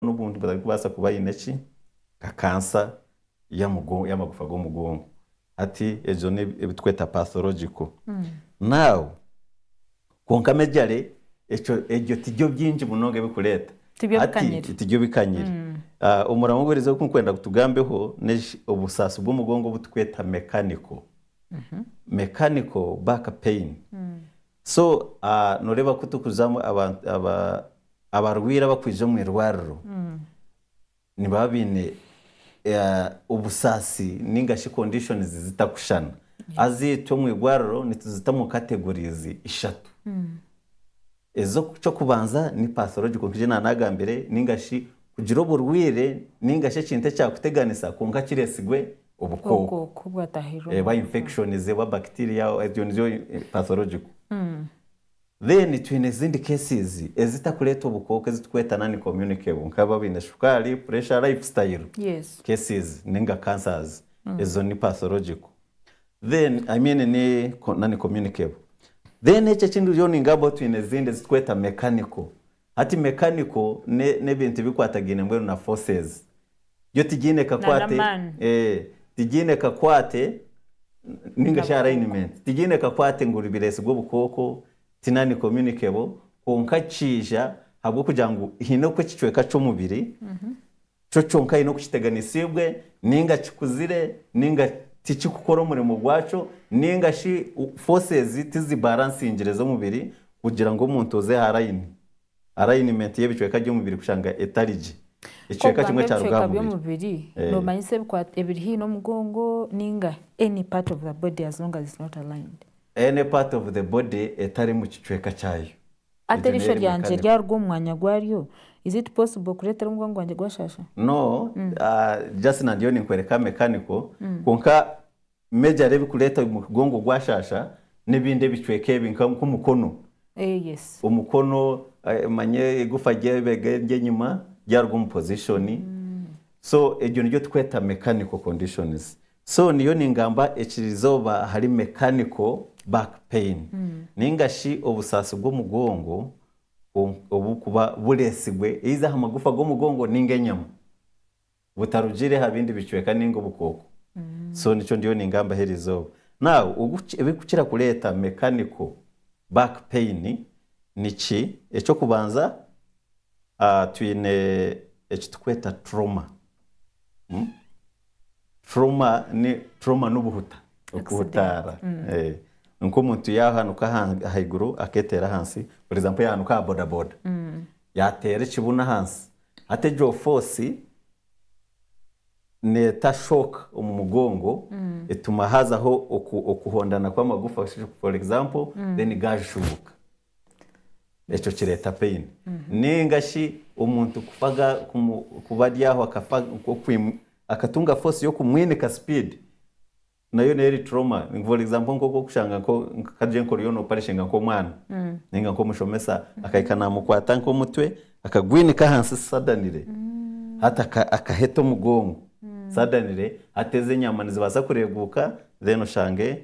n'obundi batarikubaasa kuba baine ki? Nka kansa y'amagufa g'omugongo. Hati egyo n'ebi ebitweta pathological. Now, kwonka mejare ekyo ebyo tibyo bingi munonga ebirikureeta. Tibyo Hati bikanyire. tibyo bikanyire. Omuramwa oguriizeho ogu ndikwenda ngu tugambeho n'eshi obusaasi bw'omugongo obu turikweta mechanical, mechanical back pain. So noreeba ku turikuzamu abantu abarwaire abakwija omu irwariro nibaba baine obusaasi ninga shi conditions zitakushushana. Haza itwe omu irwariro nituzitamu categories ishatu. Eky'okubanza ni pathological nka ei naaba nagambire ninga shi kugira oburwaire ninga shi ekintu ekyakuteganisa kwonka kiretsigwe. obukooko oba infection oba bacteria ebyo nibyo pathological then twine ezindi cases ezitakureeta obukooko ezitukweta non communicable nkaba abaine shukaari, pressure, life style cases ninga cancers ezo ni pathological then I mean ni non communicable then ekyo ekindi oriyo ningamba twine ezindi ezitukweta mechanical Hati mekaniko n'ebintu ebikwatagaine mbwenu na forces byo tigiine kakwate tigiine kakwate ninga shi alignment tigiine kakwate ngu biretsigwe obukooko ti nani communicable kwonka kiija habwokugira ngu haine oku ekicweka ky'omubiri Kyo kyonka aine okukiteganisiibwe, ninga kikuzire, ninga tikikukora omurimo gwakyo, ninga shi forces tizibaaransingire z'omubiri kugira ngu omuntu oze aha layini, alignment, y'ebicweka by'omubiri kushanga etari gye. Ku Ekicweka kimwe ogamba kyaruga aha ebicweka mubiri. by'omubiri, Eh. noomanyisa ebikwa- ebiri haihi n'omugongo ninga any part of the body as long as it's not aligned. Any part of the body etari mu kicweka kyayo. Ati, Eriisho ryangye ryaruga omu mwanya gwaryo, is it possible kureetera omugongo gwangye gwashaasha? No, just na ndiyo ninkwereka mechanical, kwonka majorly ebikureeta omugongo gwashaasha n'ebindi ebicweka ebi nk'omukono, omukono manya egufa ry'eibega ery'enyima ryaruga omu position, so egyo nigyo turikweta mechanical conditions. So niyo ningamba ekirizooba ahari mechanical back pain ninga shi obusaasi bw'omugongo obukuba bureesigwe eiza aha magufa g'omugongo ninga enyama butarugiire aha bindi bicweka ninga obukooko. So nikyo ndiyo ningambaho erizooba. Now ebirikukira kureeta mechanical back pain niki, eky'okubanza twine eki turikweta turoma. Turoma n'obuhuta, okuhutaara. Nikwo omuntu yaahanuka ahaiguru akeeteera ahansi for example yaahanuka aha bodaboda, yaateera ekibunu ahansi, hati egyo foosi neeta shock omu mugongo etuma haazaho okuhondana kw'amagufa for example then gaashuubuka. Ekyo kireeta pain ninga shi omuntu kufa ga kumu kuba ari aho akafa nk'okwimu akatunga force y'okumwinika speed nayo n'eri trauma for example nk'oku okushanga nko ka gye nka oriyo noparishinga nk'omwana ninga nk'omushomesa akahika namukwata nk'omutwe akagwinika ahansi sadanire hati aka akaheta omugongo sadanire hati ezo enyama nizibaasa kureguuka then oshange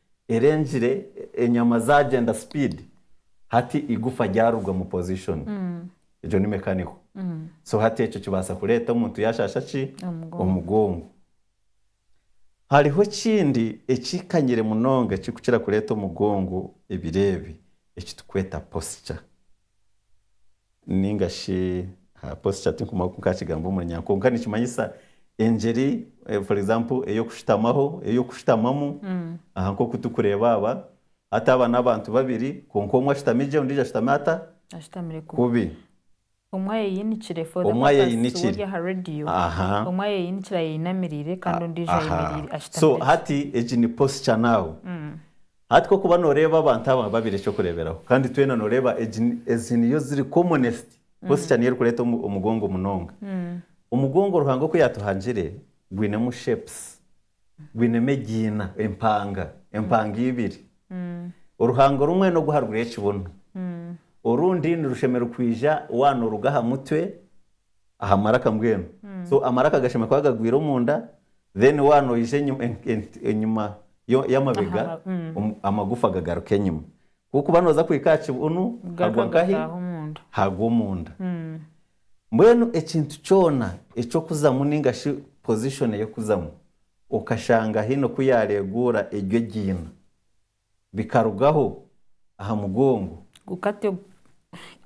erengire enyama zagyenda speed hati igufa ryaruga omu position egyo ni mechanical so hati ekyo kibaasa kureeta omuntu yashaasha ki omugongo hariho ekindi ekikanyire munonga ekirikukira kureeta omugongo ebiro ebi ekiturikweta posture. Ninga shi aha posture tinkumanya oku nkakigamba omu runyanya kwonka nikimanyisa engyeri for example eyokushutamaho, eyokushutamamu aha nkoku tukureba aba, hati aba nabantu babiri kwonka omwe ashutami gye ondijo ashutami ata? Ashutamire kubi. Kubi. Omwe ayeyinikire for the Omwe purpose ayeyinikire. wori aha radio, Aha. omwe ayeyinikire ayeyinamirire kandi ondijo Aha. ayemerire So ashutamire gye. hati egi ni posture now. Hati ku okuba nooreeba abantu aba babiri eky'okureeberaho, kandi twena nooreeba egi ezi niyo ziri commonest, posture niyo erikureeta omu omugongo munonga. Omugongo Ruhanga oku yaatuhangire gwinemu shapes, gwinemu egiina, empanga, empanga ibiri. Oruhanga orumwe n'ogu aharuguru y'ekibunu, orundi nirushemererwa kwija waanooruga aha mutwe aha maraka mbwenu so amaraka gashemwe kuba gagwire omunda then waaba noija enyima y'amabega amagufa gagaruka enyima kwonka kuba noza kuhika aha kibunu hagwa nkahi hagwa omunda mbwenu ekintu kyona ekyokuzamu ninga shi position yokuzamu okashanga haine oku yareguura egyo egiina. bikarugaho aha mugongo. Gukate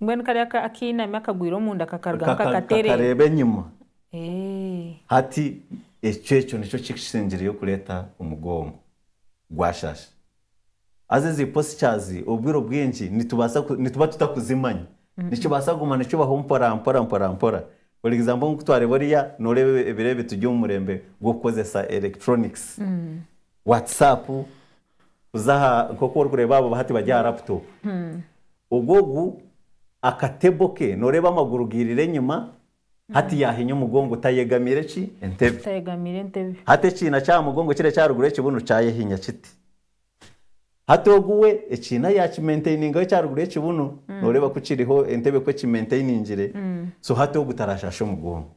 mbwenu kariya ka akainami akagwire omunda kakarugaho kaka kakatereera. kakareeba enyima. Eeh. Hati ekyo ekyo nikyo kikisingireyo kureeta omugongo gwashasha. Haza ezi postures obwire obwingi nitubaasa ku nituba tutakuzimanya. Nikibaasa kuguma nikibaho mpora mpora mpora mpora. For example nkutwareeba oriya noreeba ebiro ebi turi omu murembe gw'okukozesa electronics. WhatsApp, kuza aha nk'oku orikureeba abo hati bari aha laptop. Ogwo ogu akatebo ke nooreeba amaguru gairire enyima, hati yaahinya omugongo tayegamiire ki? Entebe. Tayegamiire entebe. Hati ekiina ky'aha mugongo kiri ekyaruguru y'ekibunu kyayehinya kiti. Hati ogu we ekiina yaakimentainingaho ekyaruguru y'ekibunu, nooreeba ku kiriho entebe ku ekimenteiningire, so hati ogu taraashaasha omugongo.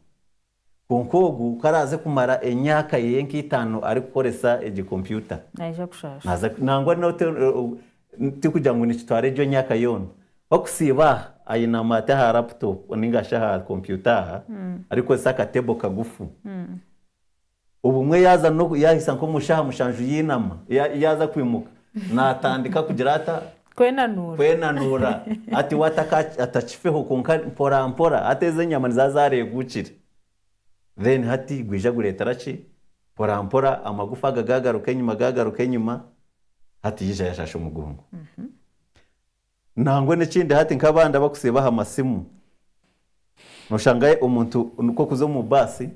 Kwonka ogu ku araaze kumara emyaka ye nk'eitaano arikukoresa egyo kompyuta, Naija kushaasha. naaza nangwa n'ote tikugira ngu nikitwara egyo myaka yoona. Ku arikusiiba aha, ayinama ati aha laputopu nainga shi aha kompyuta aha, arikukoresa akateebo kagufu. Obumwe yaaza n'oku yaahisa nk'omu shaaha mushanju yainama, ya, yaaza kwimuka, naatandika kugira ata? Kwenanuura. Kwenanuura. Hati we ata ka, atakifeho, kwonka mporampora, hati ezo enyama niziba zaareeguukire. Then hati gwija gureetera ki? Mporampora amagufa aga gaagaruka enyima, gaagaruka enyima, hati yaija yaashasha omugongo. Nangwa n'ekindi hati nk'abandi abakusiiba aha masimu, noshanga omuntu nikwo okuza omu baasi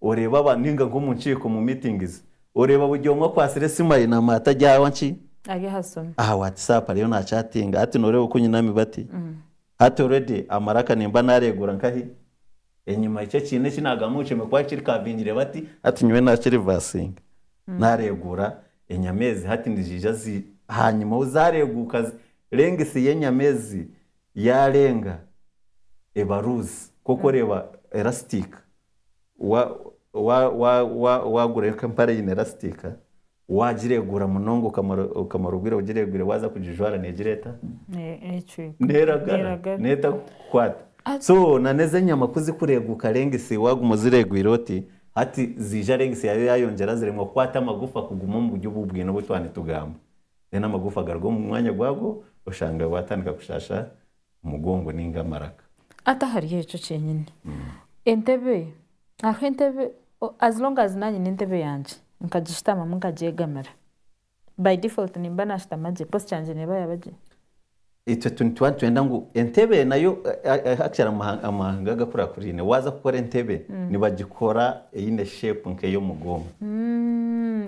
oreeba abantu ninga nk'omu nkiiko omu meetings oreeba buri omwe akwatsire esimu ayinami ati ari aha ki? Ari aha simu. Aha whatsapp ariyo na chatinga hati noreeba oku nyinami bati hati already amaraka nimba nareegura nkahi enyima eki ekiine eki nagamba ngu kyemekwaki kiri cavingire bati hati nyowe naki reversinge nareegura Enyama ezi hati niziija zi ahaanyima ou zaareeguuka zi renga esi y'enyama ezi yaarenga eba luuzi nk'oku oreeba erasitiika wa wa wa wa waagura nka empare eine erasitiika waagireeguura munonga okamara okamara obwire ogireegwire waaza kugijwara neegira eta? Neecweka. Neeragara, Neeragara. neetakukwata. So nan'ezi enyama ku zikureeguuka renga esi waaguma ozireegwire oti Hati ziija lengisi yaayo yaayongyera ziremwa kukwata amagufa kuguma omu buryo obu bwine obu twaba nitugamba. Then amagufa garuga omu mwanya gwago oshange waatandika kushaasha omugongo nainga amaraka. Ati ahari ekyo kyenyini entebe, hariho entebe, as long as naanye nyine entebe yangye nkagishutamamu nkagyegamira. By default nimba nashutama gye, post yangye neba yaba gye. Itwe nituba nitwenda ngu entebe nayo actually amahanga agakurakuraine waza kukora entebe nibagikora eine shape nk'eyomugooma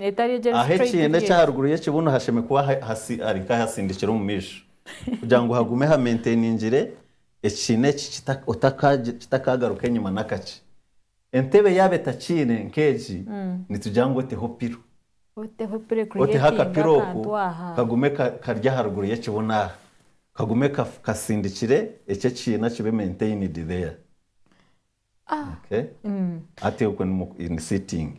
etari egi eri straight ahekiina ekya haruguru y'ekibuno hashemwe kuba hari nk'ahasindikire omu maisho kugira ngu hagume ha maintainingire ekiina eki kitakaagaruka enyima nakakye Entebe yaaba etakiine nk'egi, nitugira ngu oteho pilo. Oteho pilo Oteho eka-creatinga akapilo oku akantu aha. kagume ka kari aha ruguru y'ekibuno aha. Kagume ka kasindikire ekyo ekiina kibe maintained there. Okay? Hati okwe ni mu ni sitting.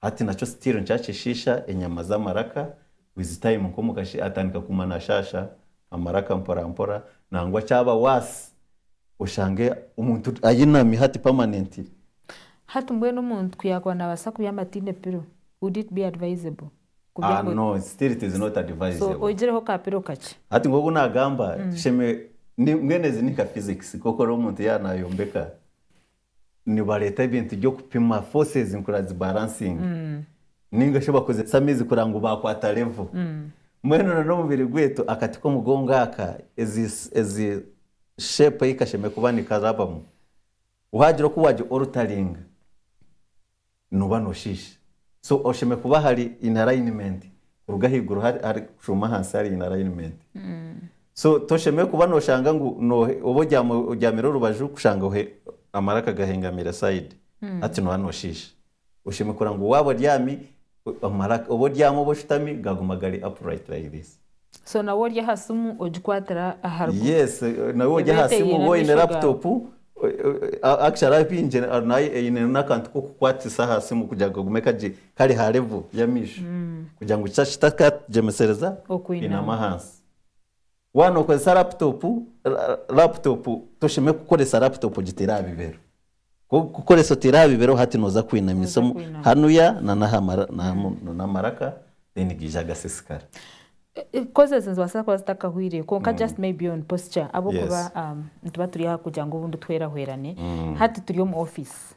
Hati nakyo still nikyakyeshiisha enyama z'amaraka with time nka omukashi atandika kuguma nashaasha amaraka mporampora nangwa kyaba worse oshange omuntu ayinami hati permanently. Hati mbwenu omuntu ku yakuba nabasa kubyama ataine pillow would it be advisable Ah kubyama no still it is not so advisable. oigireho ka pillow kakye. Hati nk'oku nagamba tusheme ni mbwenu ezi ni nka physics nk'oku ori omuntu yaba nayombeka nibareeta ebintu by'okupima, forces ngu zibaransinge nainga shi bakozese amaizi kureba ngu baakwata level. Mbwenu reero omubiri gwaitu akati k'omugongo aka, ezi shape ei kashemereire kuba nikaraabamu, waagira oku waagi-, altaringa. noba noshiisha so oshemeriire kuba hari in alignment kuruga ahaiguru hari kushuma ahansi hari in alignment so toshemeriire kuba noshanga ngu oba obyamire orubaju kushanga amaraka gahengamire side hati noba noshiisha oshemeriire kureba ngu waaba obyami Amaraka obu oryama obu oshutami gaguma gari upright like this. So nawe ori aha simu ogikwatira aha ruguru. Yes nawe ori aha simu oba oyine laptop actually ari bingi nayo eyine n'akantu k'okukwatisa aha simu kugira ngu kagume kari ha level y'amaisho kugira ngu kitakagyemesereza kwinama ahansi. Waaba nokozesa laptop, laptop toshemeriire kukoresa laptop ogiteire aha bibero. Ku orikukoresa oteera aha bibeero hati nooza kwinamiisa omu hanuya nana aha maraka then gaija gasisikara. Coz ezi nizibaasa kuba zitakahwire kwonka just maybe on posture ahabw'okuba nituba turi aha kugira ngu obundi twehweraherane. Hati turi omu office,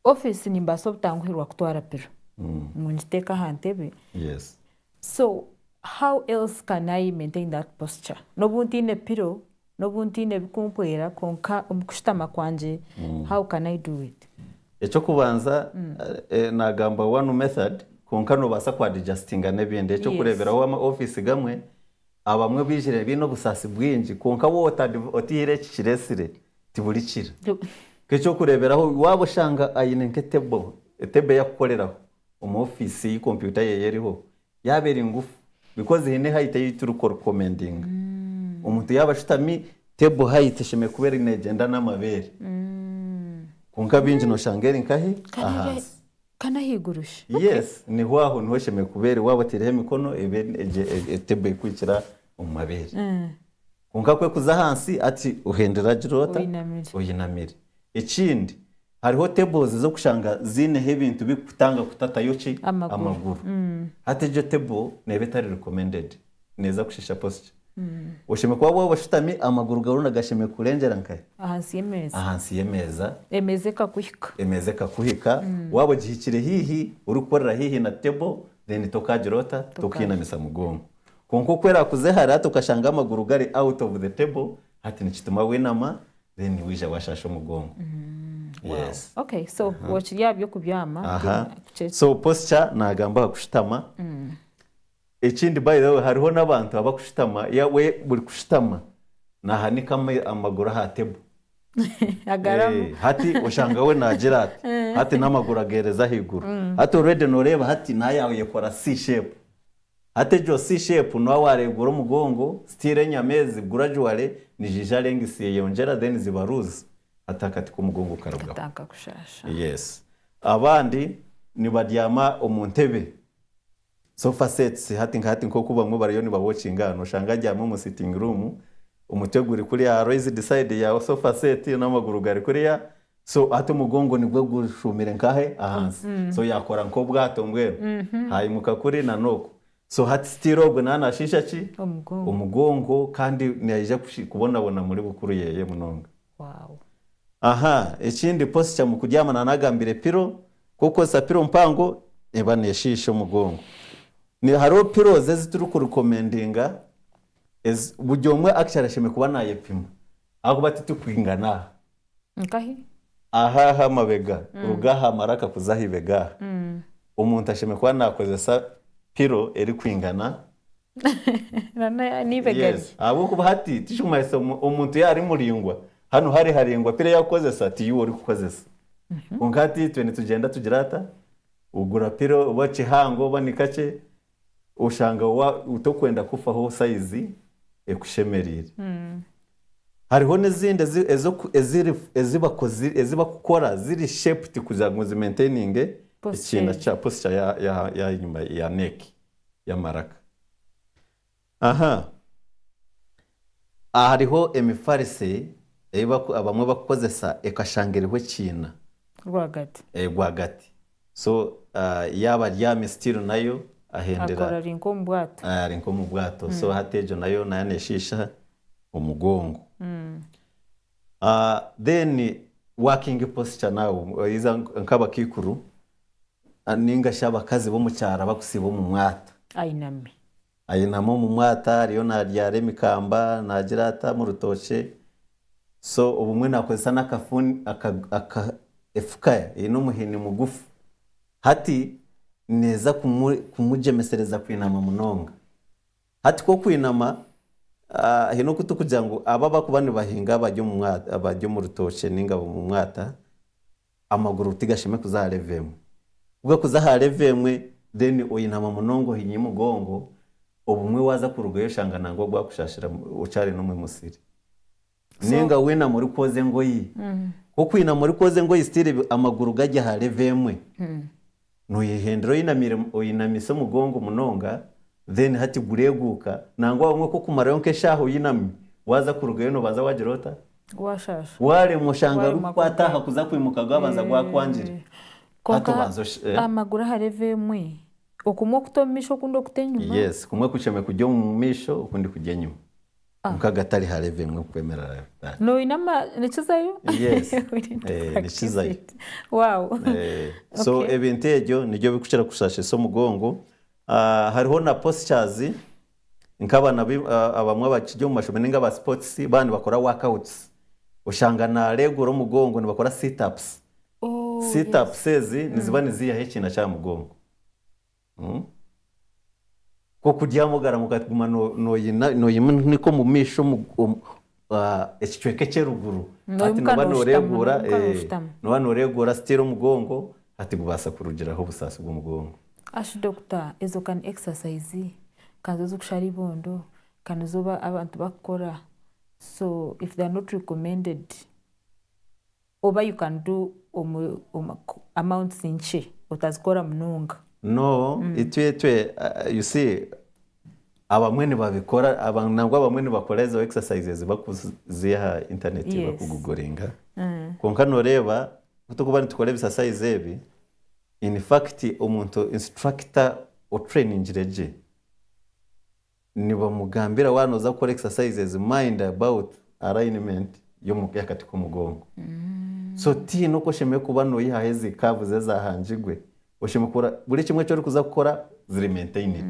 office nimbaasa obutanguhirwa kutwara pilo ngu ngiteeke aha ntebe so how else can I maintain that posture n'obu ntaine pilo? N'obu ntaine ebikumpwera, kwonka omu kushutama kwangye, how can I do it? Eky'okubanza nagamba one method kwonka nobaasa ku adjustinga n'ebindi. Eky'okureeberaho wama office gamwe abamwe baijire baine obusaasi bwingi kwonka waaba otaire eki kiretsire tiburikira. Nk'eky'okureeberaho waaba oshanga aine nk'etable, etable eyakukoreraho omu office ei computer ye eriho, Yaaba eri ngufu because eine height ei turi ku recommendinga. Omuntu yaaba ashutami, table height eshemereire kuba eri neegyenda n'amabeere. Kwonka bingi nooshanga eri nkahi? Kandi eri Ahansi. kandi ahaiguru shi? Okay. Yes, niho aho niho eshemereire kuba eri. Waaba otaireho emikono, ebe egi e- e- table erikuhikira omu mabeere. Kwonka kwe kuza ahansi ati ohendire agiroota Oyinamire. oyinamire. Ekindi hariho tables z'okushanga ziineho ebintu bikukutanga kutatayo ki? Amaguru. Hati egyo table neeba etari recommended. Neeza kushiisha posture. Oshemeriire kuba waaba oshutami amaguru gaawe oronda gashemereire kukurengyera nkahe? Ahansi y'emeeza. Ahansi y'emeeza. Emeeza ekakuhika. Emeeza ekakuhika. Waaba ogihikire haihi, orikukorera haihi na table then tokaagira ota? Tokaayega. Tokainamisa mugongo. Kwonka oku erakuze hare hati okashanga amaguru gari out of the table hati nikituma wenama then wija washasha omugongo yes Okay so okiri aha by'okubyama aha so posture nagamba aha kushutama ekindi by the way hariho n'abantu abakushutama ya we buri kushutama nahanika amaguru aha table agaramu hati oshanga we nagira ati hati n'amaguru agereza ahaiguru hati already noreeba hati nayo yayekora c shape Hati egyo si shape nuwa waregura omugongo still enyama ezi gradually nizija length zeyongyera then ziba loose hati akati komugongo karugaho. Tatanka kushasha. Yes abandi nibaryama omu ntebe sofa sets hati nka hati nkoku bamwe bariyo niba watchinga aha noshanga aryami omu sitting room omutwe guri kuriya aha raised side ya sofa set n'amaguru gari kuriya So ati omugongo nigwe gushuumire nkahe ahansi so yakora nk'obwato mbwenu hayimuka kuri na n'oku so hati still ogwe nawe nashiisha ki Omugongo. omugongo kandi nayija kushi kubonabona muri bukuru yeye munonga. Wow. Aha ekindi posture mu kuryama na nagambire pillow ku okukozesa pillow mpango eba neshiisha omugongo ne hariho pillows ezi turi ku recommendinga ezi buri omwe actually ashemeriire kuba nayepima ahakuba titukwingana aha Nkahi? Aha aha mabega, ruga aha maraka kuza aha ibega aha. Omuntu ashemereire kuba naakozesa pilo erikwingana. N'eibega rye. Yes. Ahabw'okuba hati tikirikumanyisa omu- omuntu yaaba ari muraingwa, hanu hare haraingwa pilo ei arikukozesa tiiwe orikukozesa. Kwonka hati itwe nitugyenda tugira ata? Ogura pilo oba kihango oba ni kakye, Oshanga wa tokwenda kufaho sayizi ekushemereire. Hariho n'ezindi ezi ezi eziri ezibakozi ezibakukora ziri shaped kugira ngu zimaintaininge ekiina Posture. Posture ya ya ya enyima ya neck y'amaraka. Aha aha hariho emifarisi ei abamwe bakukozesa ekashanga eriho ekiina. Rwagati. Rwagati. So yaaba abyami still nayo ahendera. Akora ari nk'omu bwato. Ari nk'omu bwato. So hati egyo nayo nayo neshiisha omugongo. Then working posture nawe oyiza nk'abakaikuru ninga shi abakazi b'omu kyaro abakusiiba omu mwata. Ayinami. Ayinami omu mwata ariyo naryara emikamba nagira ata mu rutookye so obumwe nakozesa n'akafuni aka efuka eine omuhini mugufu hati neeza kumugyemesereza kwinama munonga hati ku okwinama haine oku turikugira ngu aba abarikuba nibahinga bari omu mwata bari omu rutookye ninga omu mwata. Amaguru tigashemwe kuza aha level emwe. Ku gakuza aha level emwe then oyinama munonga ohinya omugongo, obumwe waza kurugayo oshanga nangwa gwakushashira okyari nomwe musiri. So. Ninga winama ori kwoza engoyi. Ku okwinama ori kwoza engoyi still amaguru gari aha level emwe, Noyehendera oyinamise omugongo munonga then hati gureguuka nangwa obumwe kokumarayo nkeshaaha oyinami waza kurugayo nobanza wagira ota? Washaasha. Waremwa oshanga Waremwa orikukwata kurugayo. aha kuza kwimuka gwabanza gwakwangire. Hati Kwonka obanza osh- eh? aha maguru aha level emwe okumwe okuta omumaisho okundi okuta enyima. Yes, kumwe kuceme kurya omumaisho okundi kurya enyima. Kwonka agatari ha level emwe kwemerera bitahi. No oyine ama nikizayo? Yes. Eh, nikizayo. Wow. Eh, so Okay. ebintu ebyo nibyo bikukira kushashisa omugongo. Ah, hariho na postures nk'abana bi- ah, abamwe abakiri omu mashomero ninga aba sports baba nibakora workouts. Oshanga naregura omugongo nibakora sit ups. Oh, Sit yes. ups ezi niziba niziihaho ekiina ky'aha mugongo. Nk'okuryama ogaramuka ati guma noyimunika omu maisho ekicweka eky'eruguru hati noba noreguura noba noreguura still omugongo hati gubaasa kurugiraho obusaasi bw'omugongo. Ashi Dokita ezo ka ni exercise ka nizo zikushara eibondo ka nizo abantu bakukora so if they are not recommended. Oba you can do omu amounts nkye otazikora munonga. No itwe itwe you see abamwe nibabikora nangwa abamwe nibakora ezo exercises bakuziiha aha internet baku gugoringa kwonka noreeba ku turikuba nitukora ebisasayizi ebi in fact omuntu instructor otutrainingire gye Nibamugambira waaba nooza kukora exercises mind about alignment y'omuka ahakati k'omugongo. So tihaine oku oshemereire kuba noyihaho ezi curves ezahangirwe, oshemereire kukora buri ekimwe eki orikuza kukora ziri maintained.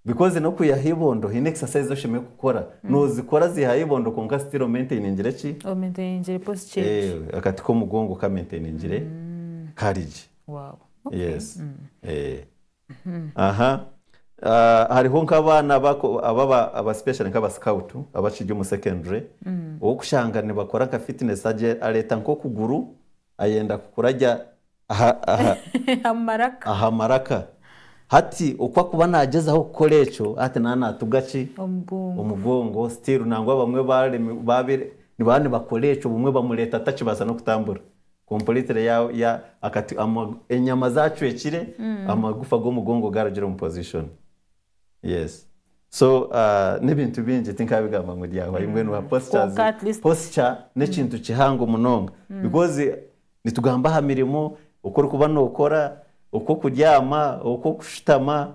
Because n'okuyiha ah'eibondo haine exercise ezi oshemereire kukora, nozikora ziiha ah'eibondo kwonka still omaintainingire ki? O maintainingire posture egyo. Eeh akati k'omugongo ka maintainingire kari gye. Wow, okay. Yes, eeh. Hariho nk'abaana aba scout abakiri omu secondary orikushanga nibakora nka fitness areeta nk'okuguru ayenda kukura gye aha maraka hati oku arikuba nagyezaho kukora ekyo hati naba natuga ki omugongo still nangwa abamwe nibaba nibakora ekyo obumwe bamureeta atakibaasa nokutambura Completely ya ya akati ama enyama zacwekire amagufa gomugongo garugire omu position yes so ah nebintu bingi tinkabigamba ngu ryahwa yu mbwenu ha postures Kwonka at least- posture nekintu kihango munonga because nitugamba aha mirimo oku orikuba nokora oku okuryama oku okushutama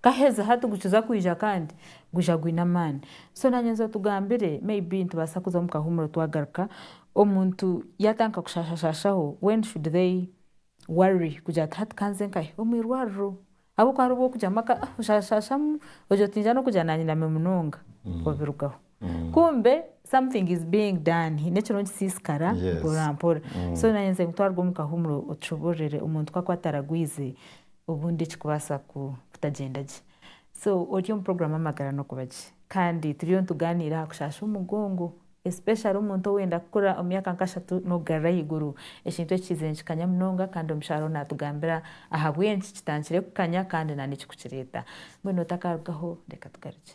Kaheza hati gukiza kwija kandi gwija gwine amaani. So nanyenza otugambire may be nitubaasa kuza omu kahumuro twagaruka omuntu yatandika kushashashashaho when should they worry kugira nti hati kanze nkahe omu irwariro ahabwokuba hariho obwokugira maka oshashashashamu ogira oti ninza nokugya nanyinami munonga obirugaho. kumbe something is being done haine ekiriho nikisisikara mpora mpora so nanye nze nkutwarwe omu kahumuro otushobororere omuntu ku akuba ataragwize obundi ekikubaasa kutagyenda gye so ori omu program amagara nokuba gye kandi turiyo nituganiira aha kushaasha omugongo especially omuntu owenda kukura omu myaka nka ashatu nokugarura ahaiguru ekintu eki kiizire nikikanya munonga kandi omushaija oriho natugambira ahabwenki kitandikire kukanya kandi nana ekirikukireeta mbwenu otakarugaho reka tugarukye.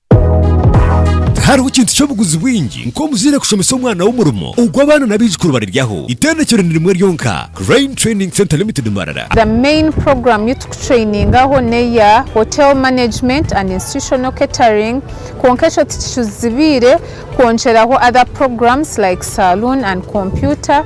Tihariho kintu ky'obuguzi bwingi nk'omuzaire kushomesa omwana we omurimo ogu abaana n'abaijukuru bariryaho. Itendekero ni rimwe ryonka, Crane Training Centre Limited Mbarara. The main program yu tukutrainingaho neya Hotel Management and Institutional Catering kwonka ekyo tikicuzibiire kwongyeraho other programs like Saloon and Computer.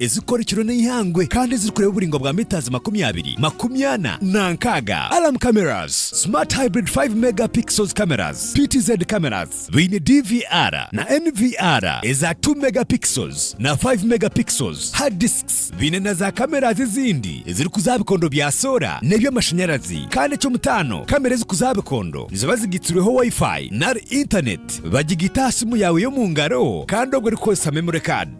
ezirikukora ekiro n'eihangwe kandi ezirikureeba oburaingwa bwa mitazi makumi abiri, makumi ana na nkaaga, Alarm Cameras, Smart Hybrid Five Mega Pixels Cameras, PTZ Cameras, biine DVR na NVR eza Two Mega Pixels na Five Mega Pixels, Hard Discs, biine na za Cameras ezindi ezirikuza aha bikondo bya soora n'eby'amashanyarazi, kandi eky'omutaano, kamera ezirikuza aha bikondo niziba zigaitsirweho Wi-Fi nari Internet, bagigaita aha simu yaawe y'omu ngaro kandi obwo erikukoresa Memory Card.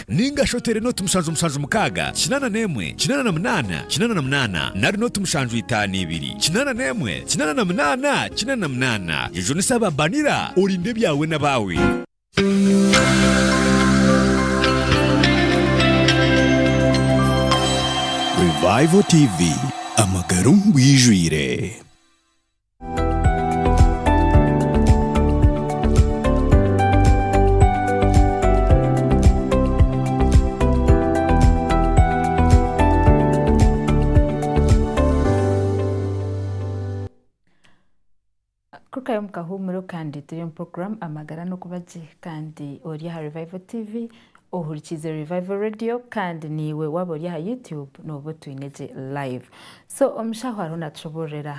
Ninga shi oteere nooti mushanju mushanju mukaaga, kinaana n'emwe, kinaana na munaana, kinaana na munaana, nari nooti mushanju itaano ibiri, kinaana n'emwe, kinaana na munaana, kinaana na munaana, egyo ni sababanira, orinde ebyawe n'abaawe. Revival TV, Amagara omu bwijwire. kurugayo omu kahuumuro kandi turi omu puroguramu amagara n'okuba gye kandi ori aha rivayivo tiivi ohurikiize rivayivo reediyo kandi naiwe waaba ori aha yutube nooba otwine gye layivu so omushaho ariho naatushoboororera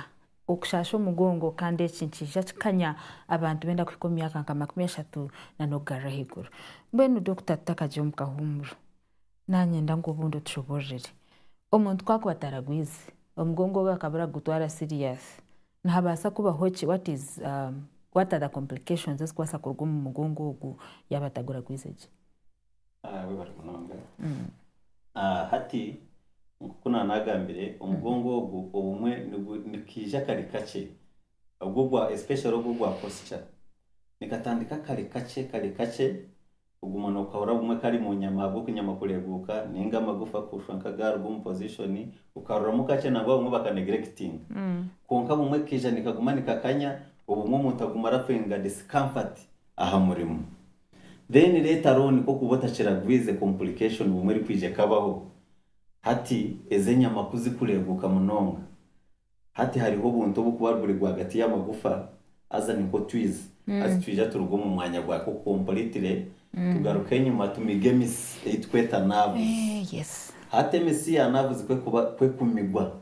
okushaasha omugongo kandi eki nikiija kikanya abantu benda kuhika omu myaka nka makumi ashatu nana okugarura ahaiguru. Mbwenu Dokita tutakagire omu kahuumuro, nanyenda ngu obundi otushoboororere. Omuntu ku akuba ataragwize, omugongo ogwe akaba aragutwara serious, nihabaasa kubaho ki, what is, what are the complications ezikubaasa kuruga omu mugongo ogu yaaba ataguragwize gye? Hati, nk'oku naanagambire, omugongo ogu obumwe nikaija kare kakye, especially ogwo ogwa posture. Nikatandika kare kakye kare kakye, kuguma nookahurira obumwe kari omu nyama ahabw'oku nyama kureeguuka nainga amagufa kushwa nk'agaaruga omu position, okaruramu kakye nangwa abamwe baka neglectinga. Kwonka bumwe kikaija nikaguma nikakanya, obumwe omuntu aguma arafiringa discomfort aha murimo. Then later on kokuba otakiragwize complication obumwe erikwija ekabaho hati ezo enyama kuzikureguka munonga hati hariho obuntu obukuba buri rwagati yamagufa haza ni nkotwizi hati twija turuga omu mwanya gwako completely tugaruke enyuma tumige emitsi eyitukweta nerves hati emitsi ya nerves kwekuba kwekumigwa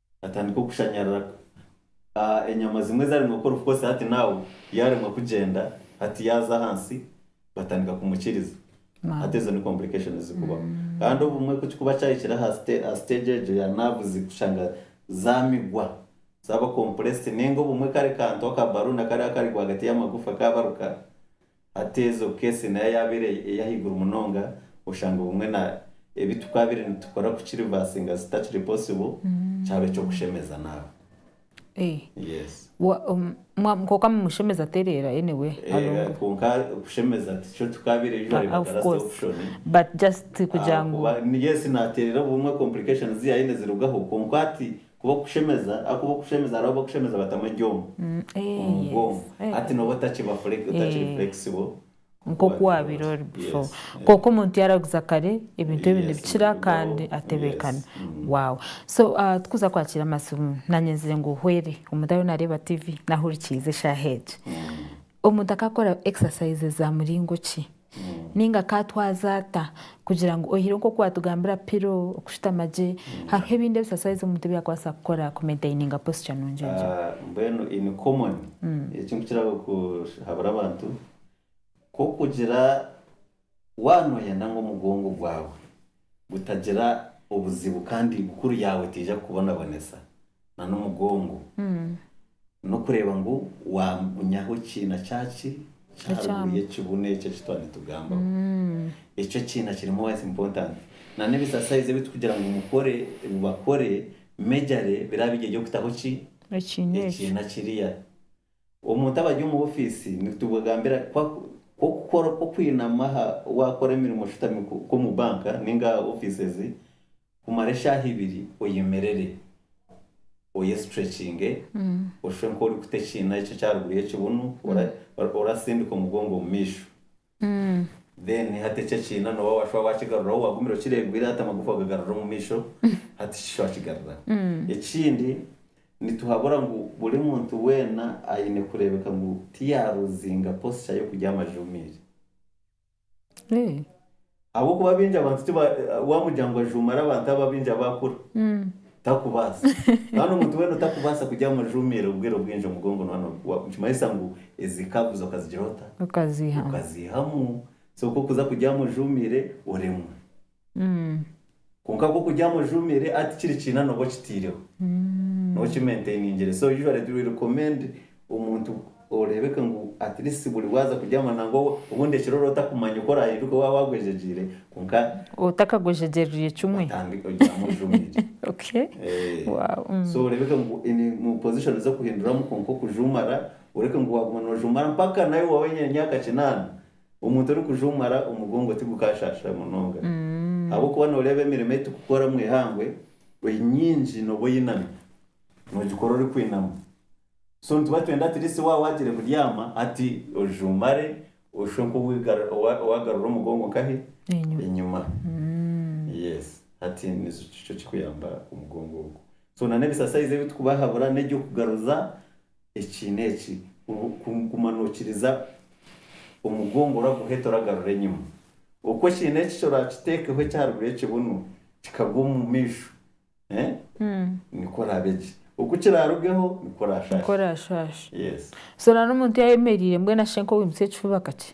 Atandika okushanyarira enyama zimwe ezaremwa kukora obukozi hati now yaremwa kugyenda hati yaza ahansi batandika kumukiriza hati ezo ni complications zikubaho kandi obumwe kukikuba kyahikire aha stage egyo ya nerves kushanga zamigwa zaba compressed ninga obumwe kare kantu aka balloon akari akari rwagati yamagufa kabaruka Hateeza obukeesi nayo yaabaire eri ahaiguru munonga, oshanga obumwe na ebi tukaabaire nitukora ku kirivasinga zitakiri possible, kyaba eky'okushemeza naawe. Yes. Kwonka mumushemeza tereera anyway alongwe. Kwonka kushemeza tikyo tukaabaire usually batarase option. But just kugira ngu. Ahakuba yes naatereera obumwe complications zi yaayine zirugaho kwonka hati Ku b'okushemeza, a ku b'okushemeza hariho ab'okushemeza batamu ebyoma omu bwongo, hati nooba otakiba otakiri flexible. Nk'oku waabaire ori before. Kwonka omuntu yaaraguza kare, ebintu ebindi nibikira kandi atebeekana. Wow. So turikuza kwakira amatsiro. Naanye nzire ngu hwere, omuntu ariyo naareeba tiivi, naahurikiize eshaaha egi. Omuntu akaakora exercise za muringo ki? Ninga akaatwaza ata kugira ngu oyihireho nk'oku waatugambira pilo, okushutama gye? Hariho ebindi ebisaswaizi omuntu ebi yaakubaasa kukora kumentaininga posture nungi egyo? Mbwenu in common, eki nkukira kuhabura abantu, nk'okugira waanoyenda ngu omugongo gwawe Gutagira obuzibu kandi bukuru yaawe teija kukubonabonesa na n'omugongo. N'okureeba ngu wagunyaho ekiina kyaki kya haruguru y'ekibunu eki eki twaba nitugambaho. Ekyo ekiina kiri most important. Na n'ebisasaizi ebi tukugira ngu mukore, bakore, mejare biraba biri eby'okutaho ki? Ekiina kiriya. Omuntu abari omu ofiisi nitubagambira ku okukora okw'okwinama aha waakora emirimo oshutami nk'omu banka nainga aha ofiises kumara eshaaha ibiri oyemerere oyesitrekinge oshushe nk'orikuta ekiina ekyo eky'aharuguru y'ekibunu orasindika omugongo omu maisho Then hati eki ekiina noba washwa wakigaruraho wagumire okiregwire hati amagufa ogagarura omu maisho hati shisha owakigaruraho. Ekindi nituhabura ngu buri muntu weena aine kurebeka ngu tiyaruzinga posture yokurya amajuumire. Ahabw'okuba baingi abantu tiba, waamugira ngu ajuumare abantu abo abaingi abaakura, takubaasa. Kandi omuntu weena otakubaasa kugira ngu ajuumiire obwire obwingi omugongo nooba no, wa, nikimanyisa ngu ezi curves okazigira ota? Okaziihamu. Okaziihamu. So ku okuza kugira ngu ojuumiire, oremwa. Kwonka ku okuryama ojumire ati kiri kiina noba okitiireho noba okimaintainingire so usually it will recommend omuntu oreebeke ngu at least buri waaza kuryama nangwa obundi ekiro oraba otakumanya oku oraahinduke waaba waagwejegyeire kwonka Otakagwejegyerire kimwe. otange oryame ojumire. Okay. Wow. So oreebeke ngu in mu position z'okuhinduramu kwonka okujuumara oreke ngu waaguma noojuumara mpaka naawe waaba oine emyaka kinaana Omuntu orikujwa omu mara omugongo tigukaashaashira munonga ahabw'okuba nooreeba emirimo ei turikukora omu ihangwe enyingi nooba oyinami, noogikora orikwinama. So nituba twenda at least waaba waagiire kubyama hati oije omare oshushe nk'owaagarura omugongo nkahe? Enyima. Yes. Hati nikyo kirikuyamba omugongo ogwo. So n'ebisasayizi ebi turikubahabura n'eby'okugaruza. Ekiina eki, guma nookiriza omugongo oraguhe toragarura enyima. Oku ekiina eki kyoraakiteekeho ekyaharuguru y'ekibunu kikagwa omu maisho, nikwo oraabe gye. Oku kiraarugeho nikwo oraashashe. Nikwo oraashashe. Yes. So nari omuntu yaayemereire mbwenu ashe nk'owiimutse ekifuba kakye?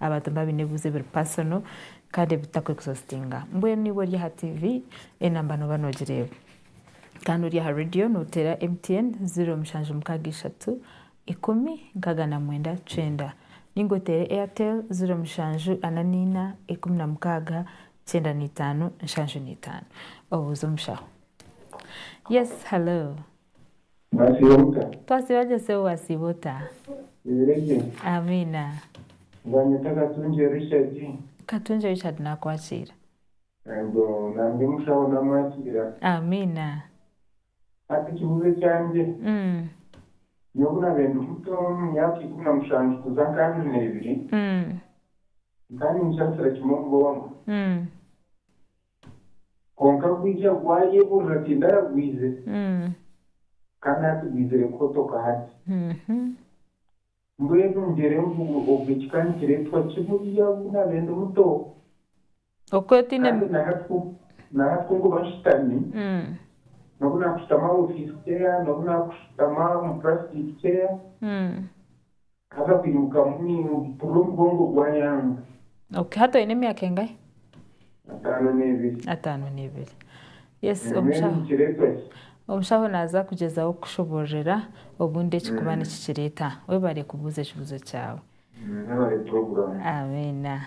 Abantu niba baine ebibuzo ebiri personal kandi ebitakuri exhaustinga. Mbwenu niba ori aha TV, enamba noba nogireba. Kandi ori aha radio notera MTN 0763 ikumi nkaga na mwenda cwenda. Ninga otere Airtel 0744 ikumi na mukaga kyenda na itano nshanju na itano. Obuuze omushaho. Yes, hello. Mwasiiba muta? Twasiiba gye Sebo wasiiba ota? Oyeire gye? Amiina. Banyeta Katungye Richard. Katungye Richard nakwakira. Ego nangye mushaho namwakira. Amiina. Hati ekibuzo ekyangye. Nyowe obunabaire ndi muto omu myaka ikumi na mushanju kuza nka abiri nebiri, nkaba ninshansira kimwe munonga. Kwonka gwija gwayeburira tiindi aragwize kandi hati gwizire kuhotoka hati. Mbwenu ngyera envubu obwe ekika nikiretwa kiburiya obu nabaire ndi muto kandi nahati kunkuba nshutami nobu nakushutama aha office chair nobu nakushutama omu plastic chair Haza kwimuka mpurira omugongo gwa Young. Ok hati oyine emyaka engahe? Ataano n'ebiri. Ataano n'ebiri. Yes omushaho. Nikiretwa ki? Omushaho naza kugyezaho kukushobororera obundi ekikuba nikikireta. Webare kubuuza ekibuzo kyawe. Webare program. Amiina.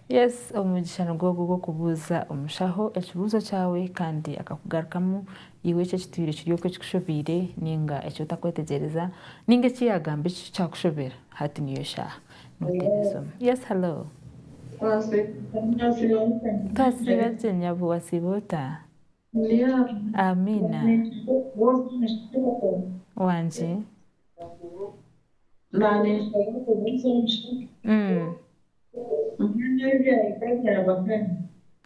Yes omugisha nigwo ogwo ogw'okubuuza omushaho ekibuzo kyawe kandi akakugarukamu Iwe eki ekitwire kiri okwo ekikushobeire ninga eki otakwetegyereza ninga eki yagamba eki kyakushobera hati niyo shaaha noteera esimu. Yes hello. Twasiiba gye nyabo wasiiba ota? Amiina. Wangye.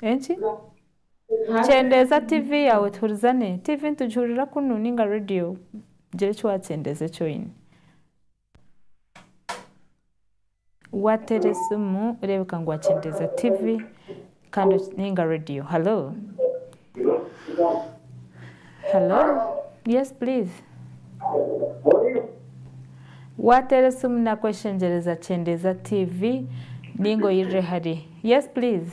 Enki? Kyendeeza TV yaawe tuhurizane. TV nitugihurira kunu ninga radio. Gira eki waakyendeeza eki oine. Waateera esimu reebeka ngu waakyendeeza TV kandi ninga radio. Halo? Halo? Yes please. Waateera esimu naakweshengyereza kyendeeza TV ninga oyirire hare. Yes please.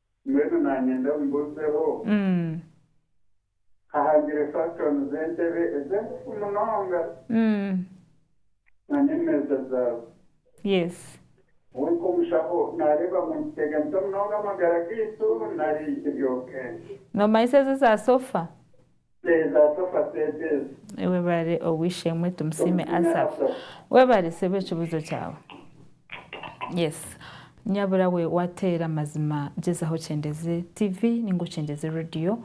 Mbwenu nanyenda omubuzeho ahagire fashion z'entebe ez'engufu munonga na n'emeeza zaazo. Nyowe nk'omushaho nareeba ngu nikiteganisa munonga amagara gaitu nari kiri okay? Nomanyisa ezo eza sofa? Teeza sofa set ezo. Webare obwishemwe tumusiime Asaph webare sebo ekibuzo kyawe yes nyabura we wateera amazima gyezaho okyendeze TV ninga okyendeze radio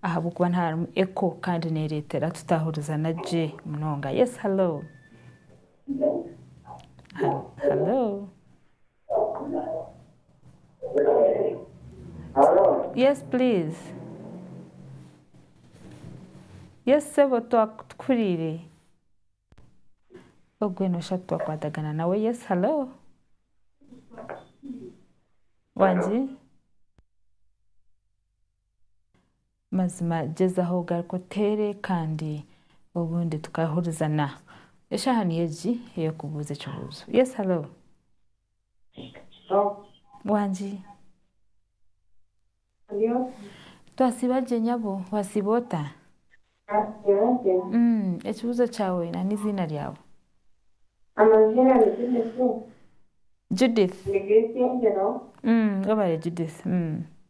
ahabwokuba niho harimu echo kandi neretera tutahurizana gye munonga yes hallo hallo. Yes please yes sebo tukurire ogwe nosha titwakwatagana nawe yes hallo wangi Mazima gyezaho ogaruke oteere kandi obundi tukahurizana. Eshaaha niyo egi ey'okubuuza ekibuuzo. Yes hello. Wangi. Twasiiba gye nyabo, wasiiba ota? Ekibuuzo kyawe na neiziina ryawe. Amaziina ni Judith. Judith. Ni Grace Angelo. Webare Judith.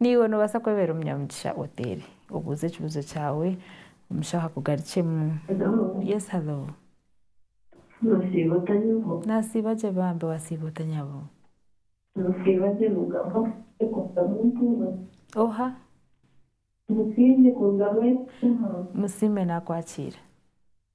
Naiwe noobaasa kwebeera omunyamugisha oteere. Obuuze ekibuuzo kyawe, omushaho akugarukyemu. Hello. Yes, hello. Nasiiba ota nyabo? Nasiiba gye bambi, wasiiba ota nyabo? Nasiiba gye Mugama, nyekoramu ntuura. Oha? Musiime kuruga Rwemitima. Musiime nakwakiira.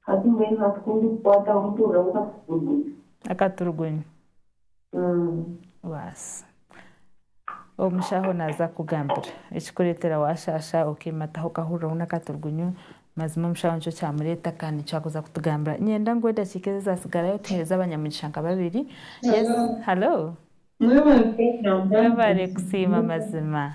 Hati mbwenu hatukunda kukwataho omutuura gw'akaturugunyu. Akaturugunyu. Baasi. Omushaho naaza kukugambira ekikureetera waashaasha okeemataho okahurira oine akaturugunyu, mazima omushaho nikyo kyamureeta kandi nikyo arikuza kutugambira. Nyenda ngu edakiika ezi ezaatsigarayo tuheereze abanyamugisha nka babiri. Yes. Halo. Mwebare kusiima mazima.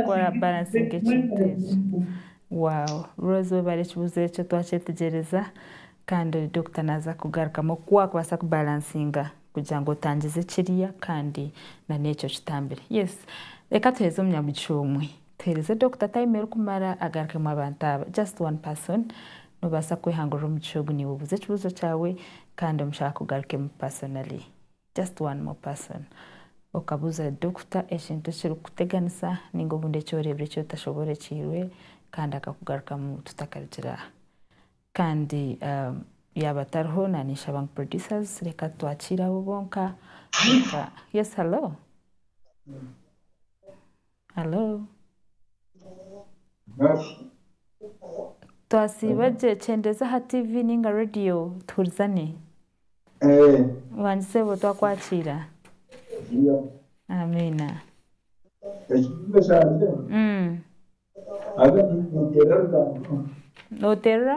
Okora balansinga ekintu ekyo. Wow Rose webare ekibuzo ekyo twakyetegyereza Kandi doctor naza kugarukamu oku wakubaasa ku balansinga kugira ngu otangize ekirya Kandi nana ekyo okitambire yes reka tuhereze omunyamugisha omwe tuhereze doctor time erikumara agarukemu abantu aba just one person nobaasa kwehangurira omugisha ogu niwe obuuze ekibuzo kyawe Kandi omushaho akugarukemu personally. Just one more person okabuuza doctor ekintu ekirikukuteganisa ninga obundi eki oreebire eki otashoborekiirwe kandi akakugarukamu tutakarugira aha. Kandi yaaba tariho naninshaba ngu producers reka twakiire abo bonka. Yes hello. Halo. Twasiiba gye. Kyendeeza aha tiivi nainga reediyo tuhurizane. Wangi Sebo twakwakiira. Amiina. Nooteerera?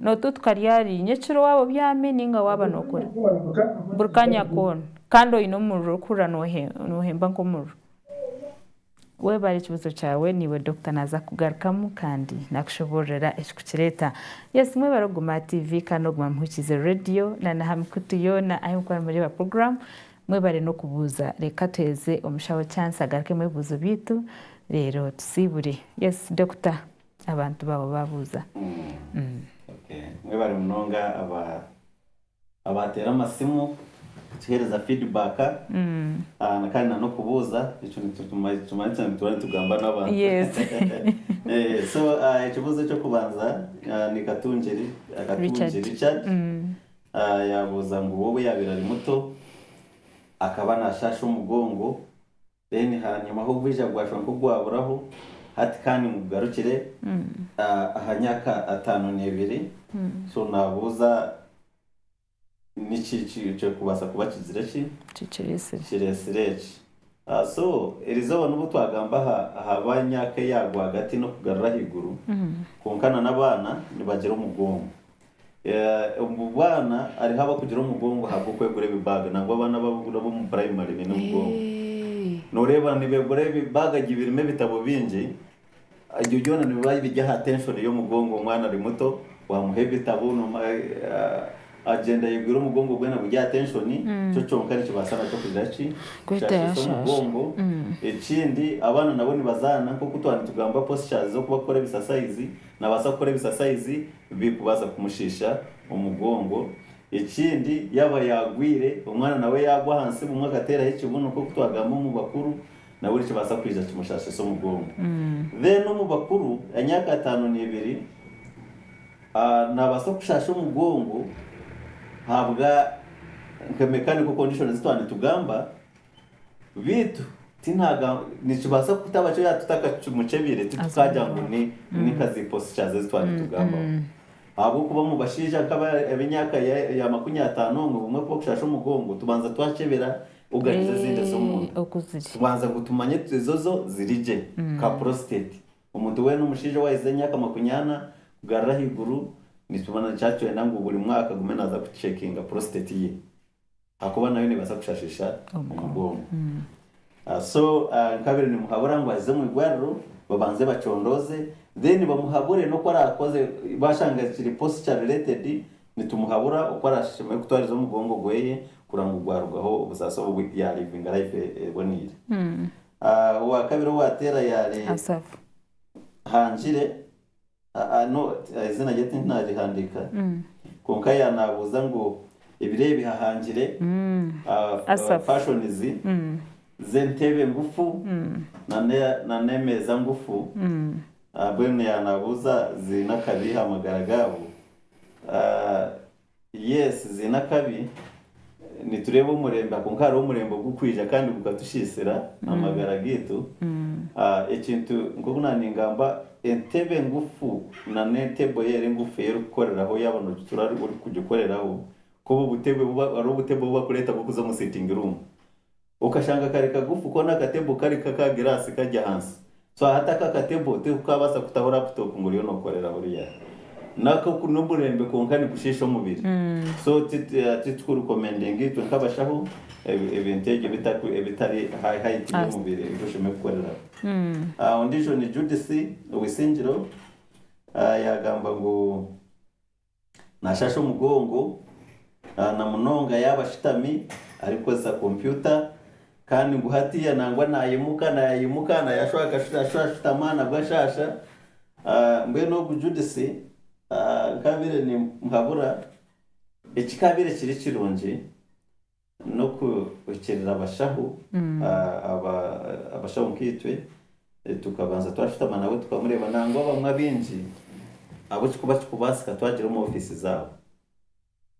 Nootu tukarya ri? Nyekiro waaba obyami nainga waaba nookora? Buri kaanya koona. Kandi oine omuriro orikuhurira noohemba nk'omuriro. Webare ekibuuzo kyawe, naiwe Dokita naaza kukugarukamu kandi naakushoboororera ekikukireeta. Yes, mwebare okuguma aha TV kandi n'okuguma muhurikiize reediyo na n'aha mikutu yoona ahu murikuba nimureeba puroguraamu. Mwebare n'okubuuza. Reka tuheereze omushaho chance agarukemu ebibuuzo byaitu reero tusiibure. Yes, Dokita. abantu baabo baabuuza. Mwebare munonga abaateera amasimu kutuheereza feedback kandi n'okubuuza. Ekyo nikimanyisa ngu turiyo nitugamba n'abantu. So ekibuuzo eky'okubanza ni Katungiri Richard yaabuuza ngu we obu yaabaire ari muto akaba naashaasha omugongo Then hanyima h'obwija gwashwa nk'ogwaburaho, hati ka nimugarukire aha nyaka atano n'ebiri, so nabuuza niki ekirikubaasa kuba kigizire ki? Kiretsire eki. So erizooba nobu twagamba aha ba nyaka eya rwagati n'okugarura ahaiguru, kwonka na n'abaana nibagira omugongo. Omu baana hariho abarikugira omugongo ahabw'okwegura ebibaaga. Nangwa abaana ab'omu puraimari baine omugongo. Nooreeba nibeegura ebibaaga gye birimu ebitabo bingi. Ebyo byona nibiba biri aha tenshoni y'omugongo. Omwana ari muto waamuha ebitabo agyenda ayegwire omugongo gwena guri aha tenshoni. Ekyo kyonka nikibaasa nakyo kugira ki? Kushashasha omugongo. Ekindi abaana nabo nibazaana nk'oku twaba nitugamba poschers z'okubakora ebisasayizi. Naabaasa kukora ebisasayizi birikubaasa kumushiisha omugongo. Ekindi yaaba yaagwire, omwana nawe yaagwa ahansi bumwe akateeraho ekibuno nk'oku twagamba omu bakuru, nabwo nikibaasa kwija kimushaashise omugongo. Then omu bakuru, emyaka ataano n'ebiri, naabaasa kukushaasha omugongo ahabwa nka mechanical condition ezi twaba nitugamba. Beitu nikibaasa kutaba kyo yaaba tutakakimukyebire titukaagira ngu ni nka zi postures ezi twaba nitugambaho. Ahabw'okuba omu bashaija nk'aba ab'emyaka ya makumi ataano obumwe obumwe ku barikushasha omugongo tubanza twakyebera oganiza ezindi ez'omunda kubanza ngu tumanye tuti ezo zo ziri gye nka prostate. Omuntu weena omushaija owahisize emyaka makumi ana kugarura ahaiguru nikiba nikyenda ngu buri mwaka agume naaza kucekinga prostate ye. Ahakuba nayo nebaasa kushashisha omugongo so nkabire nimuhabura ngu aze omwigwariro babanze bacondooze then bamuhabure noku arakoze bashanga kiri posture related nitumuhabura oku arashemeriire kutwariza omugongo gweye kureba ngu gwarugaho obusaasi obu ya livinga life eboneire owakabiri owateera yari Hangire. Aa not eiziina rye tindinarihandiika kwonka ya nabuuza ngu ebiro ebi hahangire aa fashions z'entebe ngufu na n'emeeza ngufu aa mbwenu ya nabuuza ziine akabi aha magara gaabo aa. Yes ziine akabi, nitureeba omurembe kwonka hariho omurembe ogurikwija kandi gukatushiisira amagara gaitu. Ekintu nk'oku naaba ningamba entebe engufu na n'entebbo eyo eri engufu ei orikukoreraho yaaba noogitura orikugikoreraho, nk'obu obutebe hariho obutebe obu barikureeta bw'okuza omu sitting room. Okashanga kari kagufu koona akatebo kari k'aka giraasi kari ahansi. So hati ako akatebo tikukaabaasa kutaho raputopu ngu oriyo nookoreraho oryaho. Nako n'oburembe kwonka nikushiisha omubiri. So titukurikomendiinga itwe nk'abashaho ebintu ebyo ebitari aha haiti y'omubiri ei oshemereire kukoreraho. Ondiijo ni Judith Owisingiro, yaagamba ngu. Naashasha omugongo, na munonga yaaba ashutami arikukozesa kompyuta. Kandi ngu hatiiya nangwa naayimuka naayimuka, naayashusha akashusha ashutama nabwo ashaasha. Mbwenu ogu Judith nkaabaire nimuhabura, ekikaabaire kiri kirungi, N'okuhikirira abashaho abashaho nkaitwe, tukabanza twashutama nawe tukamureeba nangwa abamwe abaingi abu ekirikuba kikubaasika twagira omu ofiisi zaabo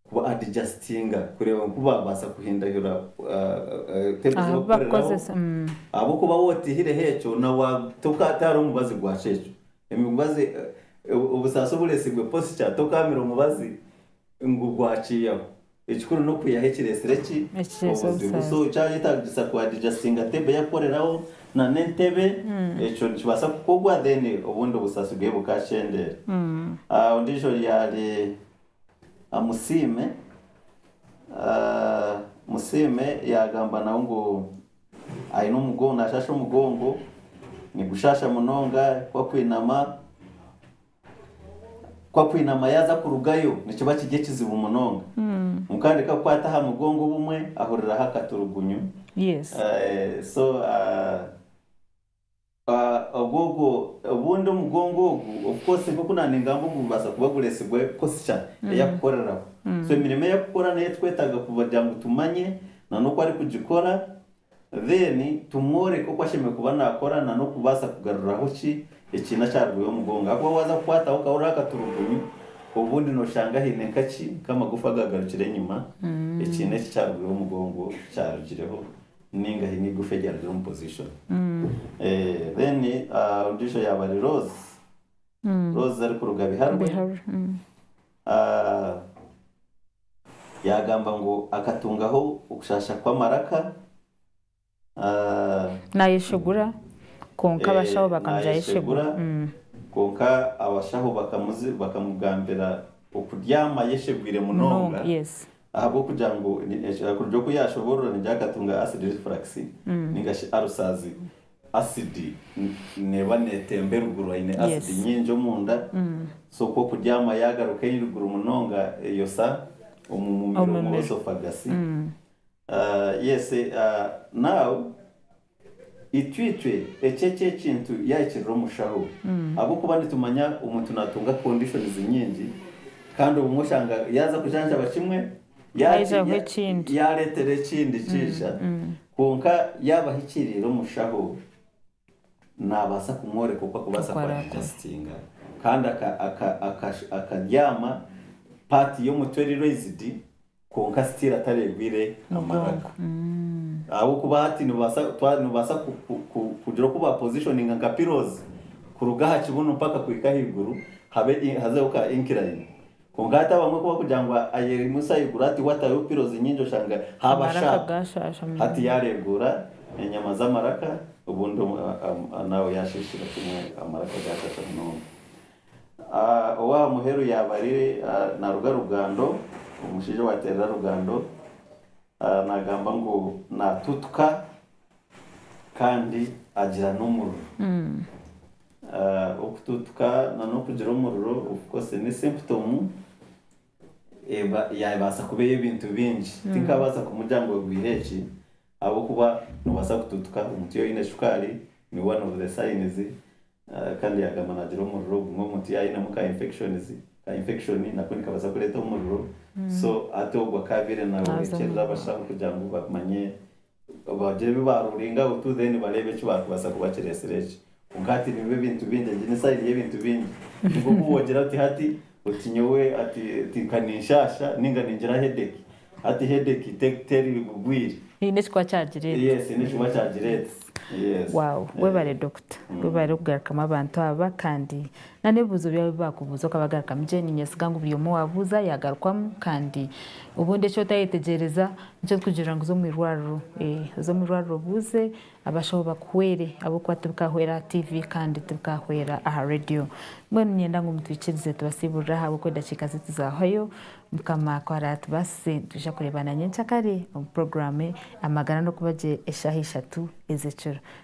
ku adjustinga kureeba ngu kubaabaasa kuhindahura table ezi barikukoreraho ahabw'okuba waaba otaihireho ekyo nawe tihariho mubazi gwakyo ekyo. Emibazi, obusaasi obureetsiibwe posture tokaamira omubazi ngu gwakyiyaho Ekikuru n'okwihaho ekireetsire ki? Obuzibu. So kyayetaagisa ku adijasinga table y'akukoreraho nana entebe, ekyo nikibaasa kukorwa then obundi obusaasi bweye bukakyendeera. Ondiijo yaari Musiime, Musiime yaagamba nawe ngu aine omugongo, naashaasha omugongo, nigushaasha munonga ku arikwinama. Ku akwinama yaaza kurugayo nikiba kiri ekizibu munonga. Kwonka nari ku akukwata aha mugongo obumwe ahuriraho akaturugunyu. Obundi omugongo ogu ofukoosi nk'oku naaba ningamba ogu gubaasa kuba gureetsirwe kutsya ei akukoreraho. So emirimo ei akukora n'ei turikwetaaga kugira ngu tumanye n'oku arikugikora Then tumworeke oku ashemereire kuba nakora na n'okubaasa kugaruriraho ki ekiina ekyarwiire omugongo ahakuba waza kukwataho okahurira akaturugunyu obundi noshanga haine nka ki nk'amagufa agagarukire enyima ekiina eki ekyarwiire omugongo kyarugireho ninga haine eigufa eryarugire omu position then ondijo yaba ari Rose Rose arikuruga Biharwe. A Yaagamba ngu akatungaho okushaasha kw'amaraka. A Naayeshegura, kwonka abashaho bakamugira ayeshegura. Naayeshegura, kwonka abashaho bakamuzi bakamugambira okuryama ayeshegwire munonga Munonga, yes. ahabw'okugira ngu ni- eki- kuruga oku yaashoboorora nigira akatunga acid reflux, nainga shi ulcers. Asidi neeba neetemba eruguru, aine asidi nyingi omunda, so ku okuryama yaagaruka eriguru munonga eyosa omu mumiro, omu esophagus. Yes, now itwicwe ekyo eki ekintu yaahikirira omushaho ahabw'okuba nitumanya omuntu naatunga conditions nyingi kandi obumwe oshanga yaaza kujanjaba kimwe Haijaho ekindi. Yaareetera ekindi kiija, kwonka yaaba ahikiriire omushaho naabaasa kumworeka oku arikubaasa kuba naajasitinga. Kandi akabyama paati y'omutwe eri raised kwonka sitiiri atareegwire amaraka. Ahabw'okuba hati noobaasa kugira oku baapoziishoninga nka pirozi kuruga aha kibunu mpaka kuhika ahaiguru hazeeho ka inkirayini. Kwonka hati abamwe ku barikugira ngu ayeerimisa ayeegura ati watayo pirozi nyingi oshanga haaba shaapu. Hati yaareegura enyama z'amaraka obundi naawe yaashiishira kimwe amaraka gaashasha munonga. Ow'aha muheru yaaba ari naaruga Rugando, omushaija owaateerera Rugando naagamba ngu naatutuka kandi agira n'omuriro. Okutuutuka nana okugira omuriro okukose n'esimputomu yaabaasa kuba ey'ebintu bingi. Tinkabaasa kumugira ngu egwire eki ahabw'okuba noobaasa kutuutuka omuntu yaaba aine shukaari, ni one of the signs, kandi yaagamba naagira omuriro gumwe omuntu yaaba ainemu ka infections, ka infection nako nikabaasa kureeta omuriro, so hati ogwo akaabaire nawe ekirirabaashaho kugira ngu bamanye Bagire ebi ba ruling out then bareebe eki barikubaasa kuba kireetsire eki. Kwonka hati nibyo ebintu bingi, egi ni side y'ebintu bingi. Ni nk'oku woogira oti hati oti nyowe ati oti nka ninshaasha nainga ningira headache. Hati headache te teri bugwire. Eine ekikuba kyagireeta. Yes, eine ekikuba kyagireeta. Yes. Wow. Webale Dokita. Webale kugarukamu abantu aba kandi Na n'ebibuuzo byabo ebi baakubuuza okabagarukamu gye. Niinyesiga ngu buri omwe owaabuuza yaagarukwamu kandi obundi eki otayetegyereza nikyo orikugirira ngu za omu irwariro. Ee, za omu irwariro obuuze abashaho bakuhwere ahabw'okuba tibikahwera aha tiivi kandi tibikahwera aha reediyo. Mbwenu niinyenda ngu mutwikirize tubasiiburire aha ahabw'okuba edakiika zaitu zaahwayo. Mukama ku araatubaasise nitwija kureebana nyencakare omu puroguraamu Amagara n'okuba gye eshaaha ishatu ez'ekiro.